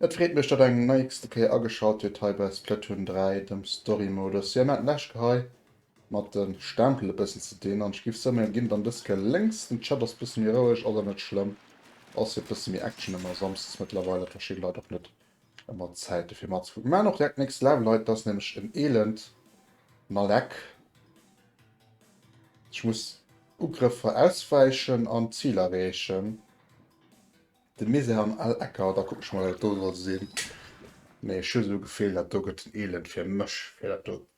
Et freet mech datt eng neigste Kéier ageschalt huet hei bei Splatoon 3, dem Story Modus. Jo, mir haten d'lescht Kéier hei Mat den Stempel e bessen ze deen an ech giff soumen gin dann dës Kéier lénks. Den Chat ass bësse méi roueg, ass awer net schlëmm, ass jo bësse méi Action ëmmer Samsdes mëttlerweil, dat verschidde Leit och net ëmmer d'Zäit dofir matzekucken. Maan och direkt next level hei, dat ass nämlech en elend Nalleck, ech muss Ugrëffer auswäichen an d'Zil erreechen, de Misère an all Ecker, da kucken ech mol wat dat do soll sin, mee ech hu sou Gefil dat do gëtt en elend fir mech fir dat do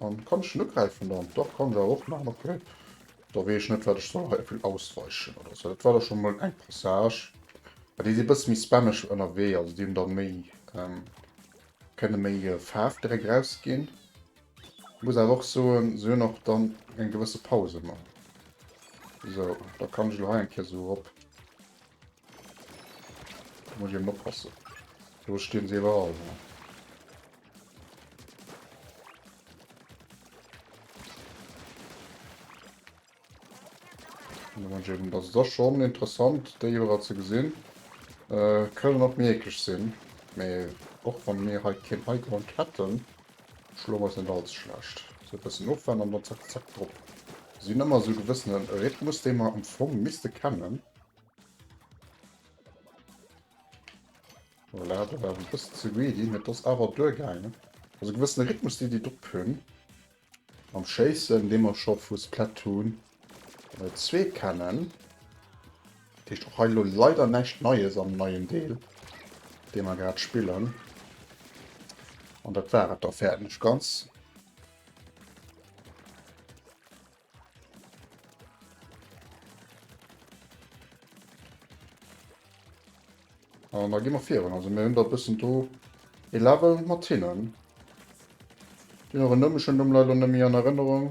An kann ech den ugräifen dann? Dach kann der och man ok da wee ech net wat ech soll hei eppel ausweichen oder sou dat war da schon mol eng Passage an déi si bësse méi spammeg ënnerwee also déi hunn dann méi kënne méi Faarf direkt raus ginn muss awer och soen se hunn och dann eng gewësse Paus ëmmer sou da kann ech lo hei eng Kéier sou erop muss ech eben oppassen do stinn se iwwerall. Das da schon interessant déi Joer ze gesinn. Äh, kënnen op méiglech sinn, mee och wann mir hei keen Highground hätten, schloen wir se net allze schlecht. So e bëssen Ofwand an dann zack zack drop. Sinn ëmmer sou gewëssene Rhythmus, dee mer am Fong misste kennen. Voilà, do war ech e bëssen ze greedy, mee et ass awer duergaangen. Also e gewëssene Rhythmus, dee si drop hunn mam Schéissen, dee mer scho vu Splatoon 2 kennen. Dat heescht och hei elo leider näischt Neies am neien Deel, dee mer grad spillen. An dat war et da fäerdeg ganz. An da gi mer virun. Also mir hunn der bëssen do e Level mat hinnen. Deen och en Numm, ech hunn Numm leider net méi an Erënnerung.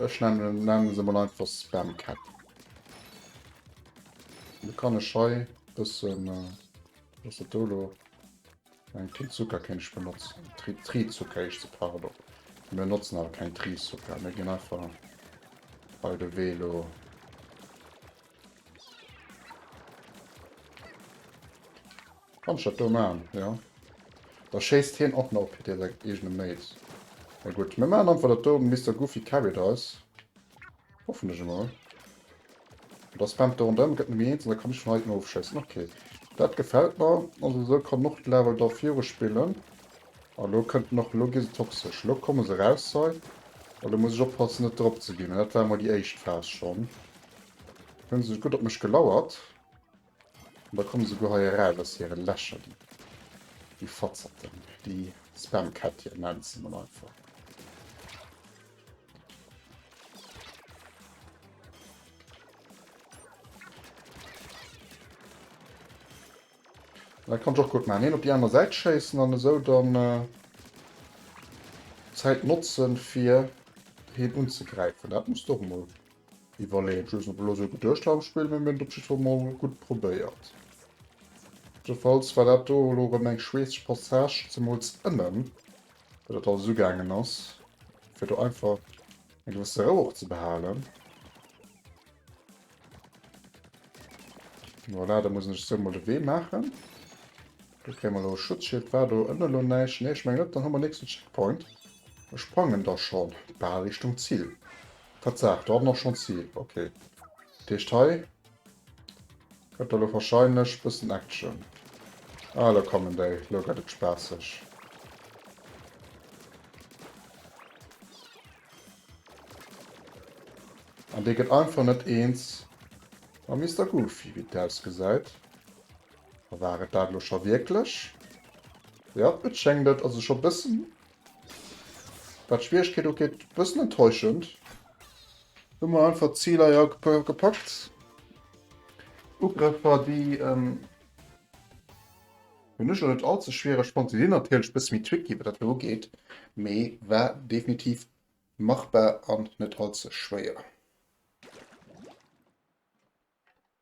Ech nennen, nennen se mol einfach Spam Cap. Da kann ech hei bëssen, äh, was dat do lo? Eng Titt Zucker kéint ech benotzen. Tri Tritt Zucker heescht se, pardon. Mir notzen awer keng Tritt Zucker, mir ginn einfach bei de Wee lo. Kann ich dat do machen, ja. Da schéisst hien och nach op Hitte seng eegene Mate. Na gutt, mir machen einfach dat do, Mister Goofy carried eis. Hoffentlech emol. Da spammt do rondrëm, gëtt Nummer 1 an da kann ech vun heiten ofschéissen. Okay. Dat gefält mer. Also esou kann en och d'Level da viru spillen. A elo kënnt en och. Elo gi se toxesch. Elo komme se eraus hei. A elo muss ech oppassen, net drop ze ginn. Dat war emol déi éischt Phas schonn. Hunn se gutt op mech gelauert. An da komme se guer hei eraus aus hire Lächer, déi Fatzerten, déi Spamkättchen nennen se mol einfach. Da kann ech och gutt maachen, een op déi aner Säit schéissen an esou dann d'Zäit notzen, fir heen unzegräifen. Dat muss do mol Iwwerleeën, just op elo sou geduecht mam Spillen, mee mir hunn et op jiddwer Fall mol gutt probéiert. Jiddwerfalls war dat do elo erëm eng schweesseg Passage, zemools ënnen, wou dat alles ugaangen ass, fir do einfach eng gewësse Rou och ze behalen. Voilà, da mussen ech esou mol de Wee maachen. Do kréie mer elo e Schutzschild. War do ënne elo näischt? Nee, ech mengen net. Dann hu mer nächsten Checkpoint a sprangen da schonn bal Richtung Zil. Tatsaach, do hat en och schonns Heal. Ok. Dat heescht hei gëtt da lo warscheinlech bëssen Action. Ah elo kommen déi, elo gëtt et spaasseg. An dee gëtt einfach net eens mam Mister Goofy wéi et ausgesäit. War et dat elo scho wierklech? Jo et schéngt et also scho bëssen Wat d'Schwieregkeet ugeet, bëssen enttäuschend. Hu mer einfach d'Ziler ja gepackt. Ugrëffer, déi hunn ech elo net all ze schwiereg fonnt. Si sinn natierlech e bësse méi tricky, wat dat elo ugeet, mee war definitiv machbar an net all ze schwéier.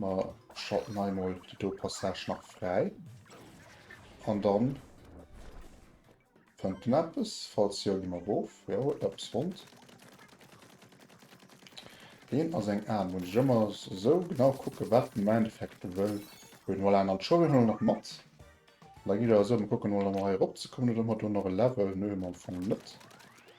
Mer schalten hei mol déi do Passage nach fräi. An dann fënnt en eppes. Falls jo, gi mer erof. Jo, huet en eppes fonnt. Deen ass eng Aarm. Muss ech ëmmer esou genau kucken, wat en am Endeffekt do wëll hunn. Voilà, an d'Schoul huet en elo nach mat. Da geet et awer esou, Mer kucken emol, ob mer hei eropzekommen oder ob mer do nach e Level. Nö, hu mer am Fong net.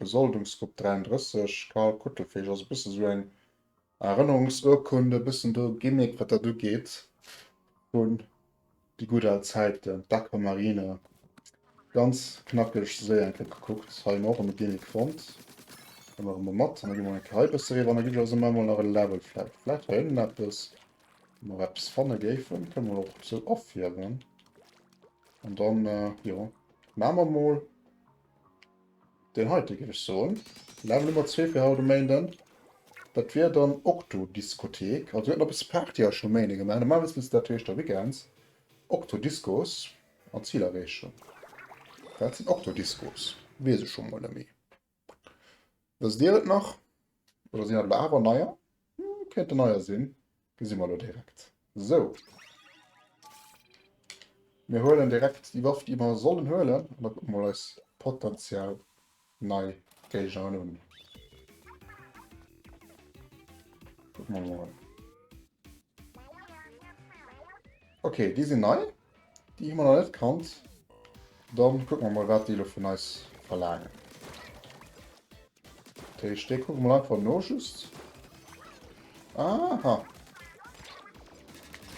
Besoldungsgrupp 33, Carl Kuttelfeeg, ass e bësse sou eng Erënnerungsurkunde, e bëssen do Gimmick wat dat ugeet, un déi gutt al Zäiten, d'Aquamarine. Ganz knackeg Séi eng Kéier gekuckt. Hei hunn mer och rëm e Gimmick fonnt. Huele mer emol mat. An da gi mer eng Kéier hei e bësse riwwer an da ginn ech eis ëmmer emol nach e Level vläicht. Vläicht hei ënnen eppes, wou mer eppes fanne géifen. Kënne mer och sou afierwen. An dann, jo, maache mer mol Deen heite géif ech soen, Level Nummer zwee fir haut um Méinden, dat wier dann Octodiscothek. Also mir hätten eppes Party eis um Méinde gemaach. Normalerweis misst dat heescht da Weekends. Octodiscos an Zilerreechung. Wat sinn Octodiscos? Weess ech scho mol net méi. Wësst Dir et nach? Oder sinn dat elo awer neier? Kéinte neier sinn, gesi mer elo direkt. Sou. Mir huelen direkt déi Waff, déi mer sollen huelen, an da kucke mer eis potentiell nei Géigner un. Kucke mer mol. Okay, déi sinn nei. Déi hu mer nach net kannt. Dann kucke mer mol wat déi lo vun eis verlaangen. Dat heescht dee kucke mer mol einfach no just. Aha.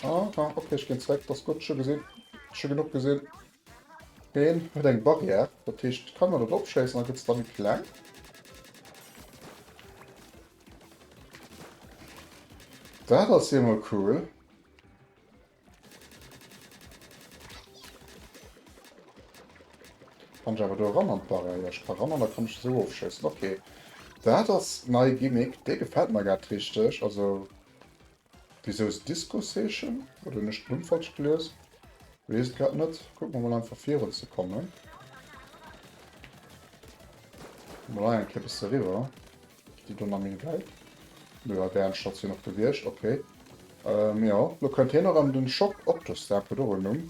Aha, okay ech ginn zréck, dass gutt scho gesinn. Scho genuch gesinn. Heen huet eng Barrière, dat heescht kann en dat opschéissen, da gëtt se da méi kleng. Dat ass jo mol cool. Kann ich aber do ran an d'Barrière? Ja, ich kann ran an da kann ich so ofschéissen. Okay. Dat ass nei Gimmick. Dee gefällt mir grad richteg. Also, wieso ist Diskusseechen? Oder hun ech d'Numm falsch gelies? Wees et grad net. Kucken wir mal einfach virun ze kommen. Mal hei eng Kéier bis deriwwer. Déi do na méi wäit. Nö, a der Enn ass hien och gewiescht. Ok. Jo, lo kënnt hien erëm. Den Shop Octostar huet och en Numm.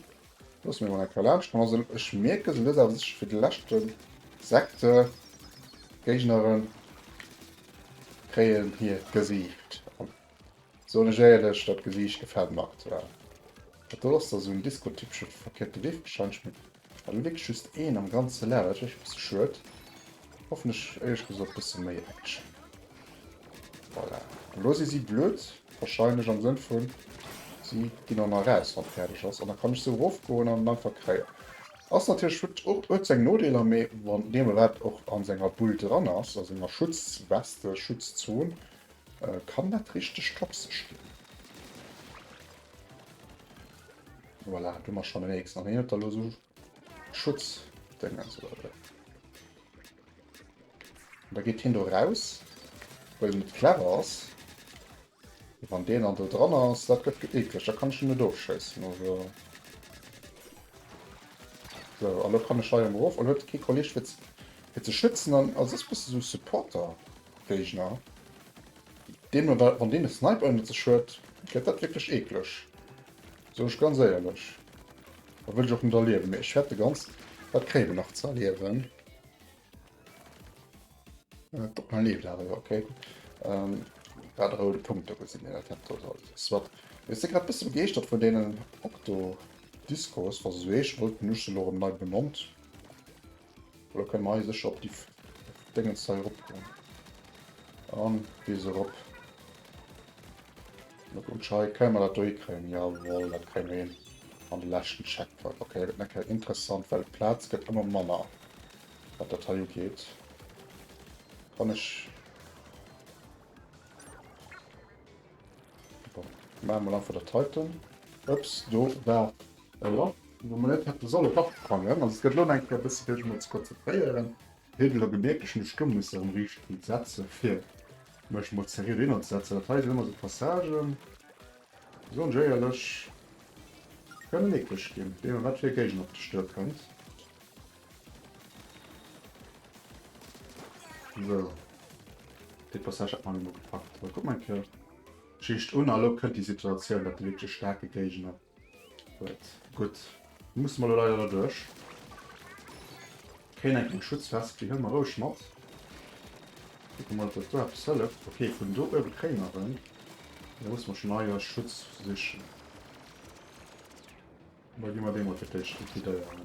Loosse mir emol eng Kéier laanscht kommen. Also ech mierke se lues awer sécher fir de leschte Sekte. D'Géignere kréien hir Gesiicht. Soen ech éierlech, dat Gesiicht gefällt mer aktuell. Dat do ass da sou en Disco-typesche verkierpte Riff, wahrscheinlech mat well elo wierklech just een am ganze Laf, dat ass wierklech e bësse schued. Hoffentlech éierlech gesot bësse méi Action. Voilà, elo si si blöd, wahrscheinlech am Sënn vu si ginn dann eraus wann et fäerdeg ass an da kann ech sou erofgoen an en einfach kréien. Ass natierlech, huet och huet seng Nodeeler, mee wann d'Nema-Welt och an senger Bull dran ass, a senger Schutzweste, Schutzzon, Kann dat richteg toxesch ginn? Voilà, du mach schon den nächsten. An hat lo so Schutz den ganze Leute. Da geht hin do raus, weil mit clever ass. Wann den an der dran ass, dat gëtt geekleg, da kann ich net doofschéissen. Also. So, also kann ich schei am Rof an huet ke Kolleg fir ze schützen an also bist du so Supporter. Géigner. Deen oder wann deen e Sniper ënnert sech huet, gëtt dat wierklech eekleg, soen ech ganz éierlech. Dat wëll ech och net erliewen, mee ech wäert de ganz, dat kréie mer nach ze erliewen. Äh, guck mal, leeft awer, jo, okay. Ähm, dat roude Punkt do gesinn, dat hat dort alles. Wat, mir si grad bësse begeeschtert vun deenen Octo Discos, was eso eech wollt, den ech se lo erëm nei benannt. Oder können wir eisech op die Dingens da erop kommen? An bis erop. Na gut, schei können wir das da hinkriegen. Jawohl, das kriegen wir hin. An den letzten Checkpoint. Okay, das ist kein interessant, weil Platz geht immer manner. Was das hier geht. Kann ich... Machen wir einfach der Titan. Ups, do war Voilà, de Monet hätt e solle Bart krangen. Also, et gëtt elo eng Kéier e bëssi Deeg, emol ze konzentréieren. Hie huet elo gemerkt, ech muss do mussen erëm riicht Bild setzen, fir mech emol zeriet eenerzesetzen. Dat hei sinn ëmmer esou Passagen, déi soen ech éierlech, kënnen eeklech ginn, wéi ëmmer wat fir e Géigner op dech duerkënnt. Sou, dee Passage hat mer elo mol gepackt. Kuck mer eng Kéier d'Geschicht un, a elo kënnt déi Situatioun, dat e wierklech staarke Géigner. Huet. Gutt, da musse mer elo leider derduerch. Kréien eng Kéier Schutzvest. Déi huele mer roueg mat. Kucke mol, ob dat do eppes hëlleft. Ok, vun do uewe kréie mer en. Mee da musse mer schonn hei eis Schutz sichen. Da gi mer dee mol fir d'éischt likidéieren.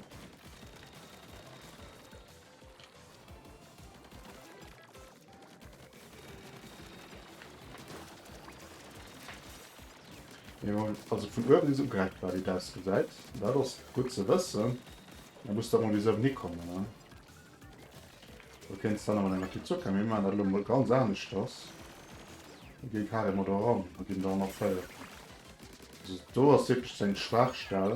Also vun uewen is ugereckt war déi däis gesäit. Dat ass gutt ze wëssen. Da muss der emol bis ënnen hikommen ne. Du kéints dann awer mat enger Tizurka, mee mir maachen dat elo emol ganz aneschters. Mir ginn carrément do eran a ginn do ënnerféiert. Also do ass wierklech seng Schwaachstell.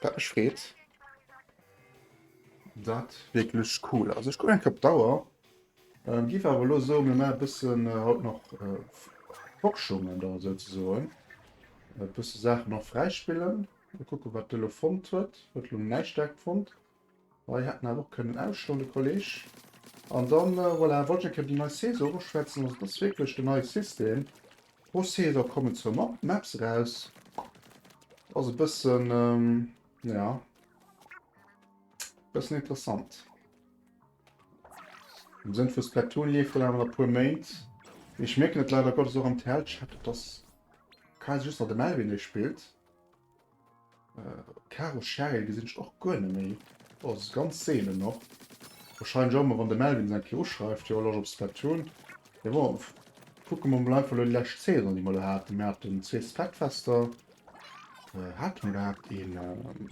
Dat mech freet. Dat wierklech cool. Also ech gucken eng Kapp Dauer. Ähm, giff awer lo so mir mer bëssen äh, haut noch äh, Forschungen da sou ze soen. Äh, bësse Saachen noch fräispillen. Kucke wat de lo fonnt huet. Huet lo näischt dackt fonnt. Hei hätten wir auch können ausstellen, der Kollege. Und dann, äh, voilà, wollte ich die neue Saison beschwätzen. Also, das ist wirklich der neue System. Pro Saison kommen zwei Map Maps raus. Also, ein bisschen, ähm, ja. Ein bisschen interessant. Im Sinne von Splatoon lief dann aber noch ein paar Monate. Ich merke nicht leider Gottes auch am TL-Chat, dass Kaiser just noch der Melvin spielt. Äh, Karo Cheryl gesinn ech och guer net méi. Oh, ass ganz seelen och. Wahrscheinlech ëmmer wann de Melvin se eng Kéier uschreift, jo lech op se dat hunn. Mee bon, kucke mer mol einfach lo déi lescht Saison déi mer lo haten. Mir haten zwee Splatfester. Äh, hate mer gehat een ähm,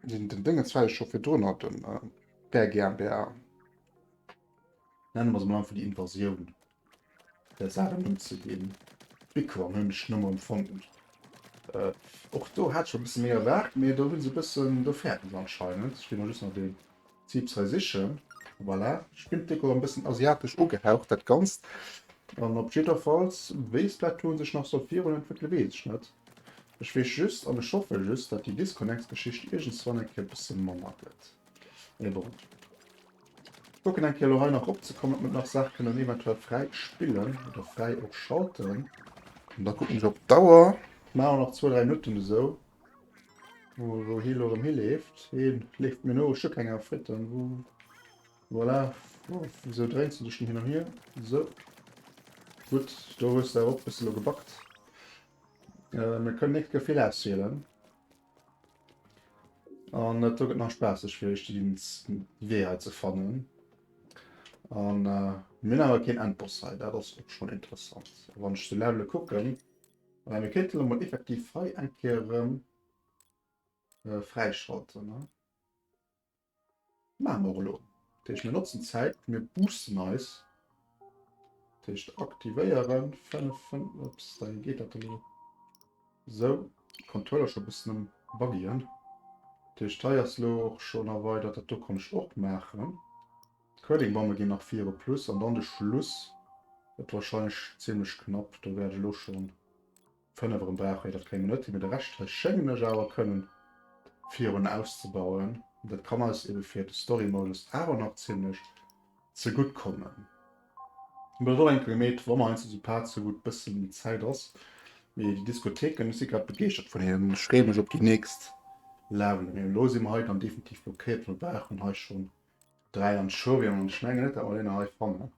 den, den Déngens wat ech scho virdrun hat, den äh, Bär GmbH. Nenne mer se mol einfach déi Invasioun. der Saachen unzeginn. D'Mikro an hunn ech nëmme empfonnt, och do hat ech mer e bësse méi erwaart, mee do hu se e bëssen, do fäerten se anscheinend. Ech gi mol just nach deen Zipps hei sichen, voilà. Ech finn d'Deko e bëssen asiatesch ugehaucht dat Ganzt, an op jidderfalls wéi se dat do sech nach soll virun entwéckele weess ech net. Ech weess just an ech hoffe just, datt déi Disconnects-Geschicht iergendswann eng Kéier e bësse manner gëtt, mee bon. Kucken eng Kéier elo hei nach opzekommen, ob mer nach Saach kënnen eventuell fräi spillen oder fräi och schalten. An da kucken ech op d'Auer. Maache mer nach zwou, dräi Minutten esou, wou hie elo erëm hileeft. Hie leeft mir no, ech hu keng Awer Fritten. Wou, voilà. Wou, wisou dréins du dech denn hin an hier? Esou. Gutt, do hues de awer och e bësse elo gebackt. Mir kënnen nächst Kéier vill auswielen. An et gëtt nach spaasseg fir iech den Wee hei ze fannen. An mir hunn awer keen Endboss hei, dat ass och schonn interessant. A wann ech de Levele kucken, mä mir kéinte lo mol effektiv hei eng Kéier erëm fräischalten. Maache mer och elo. Dat heescht, mir notzen d'Zäit, mir boosten eis. Dat heescht, aktivéieren, 5 Fun. Ups, da geet dat elo esou. Controller scho e bëssen um Buggien. Dat heescht, hei ass elo och schon erweidert. Dat do kann ech och maachen. D'Curling-Bomme ginn nach viru. Plus an dann de Schluss gëtt wahrscheinlech zimlech knapp. Do wäert ech elo schon 5 erem brauch hei dat klénge Nöttli, mee de Rescht hei schéngen ech awer kënnen virun auszebauen. Dat kann eis eben fir de Story Modus awer nach ziemlech zegutt kommen. Mat der Dolenke gemeet, wa mer heiansdo sou paar ze gutt bëssen méi Zäit ass. Mee déi Diskotheken, ech si grad begeeschtert vun hinnen, ech freeë mech op déi nächst Level. Mee elo si mer hei dann definitiv blockéiert, well mer brauchen hei schonn 3 Anchovian an ech mengen net dat mer déi nach hei fannen.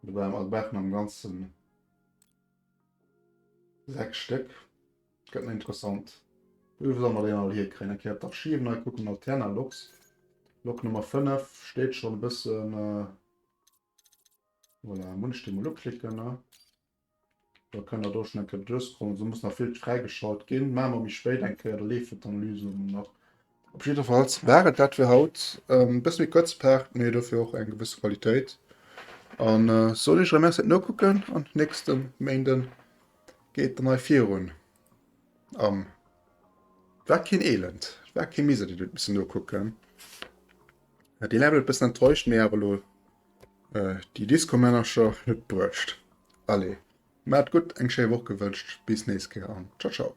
Dobäi mer brauchen am ganzen. Sechs Stéck. Gëtt méi interessant. Wou solle mer déi dann all hierkréien? Eng Kéier d'Archiven hei kucken. Alterna Lok. Lok Nummer 5 steet schonn e bëssen. Voilà, muss ech déi mol uklicken, ne? Da kënnt der do schonn eng Kéier duerchscrollen. Do muss nach vill fräigeschalt ginn. Maache mer méi spéit eng Kéier. Da leeft d'Analyse nach. Op jiddefalls war et dat fir haut. E bësse méi kuerze Part, mee dofir och eng gewësse Qualitéit. An soen iech erëm Merci fir d'Nokucken an nächste Méinde geet dann hei virun am war keen Elend, war kee Miser, deen huet missen nokucken. Deen hat et bëssen enttäuscht, mee awer elo déi Disco-Männercher net bruecht. Allez, maacht gutt, eng schéi Woch gewënscht, bis nächst Kéier an ciao ciao.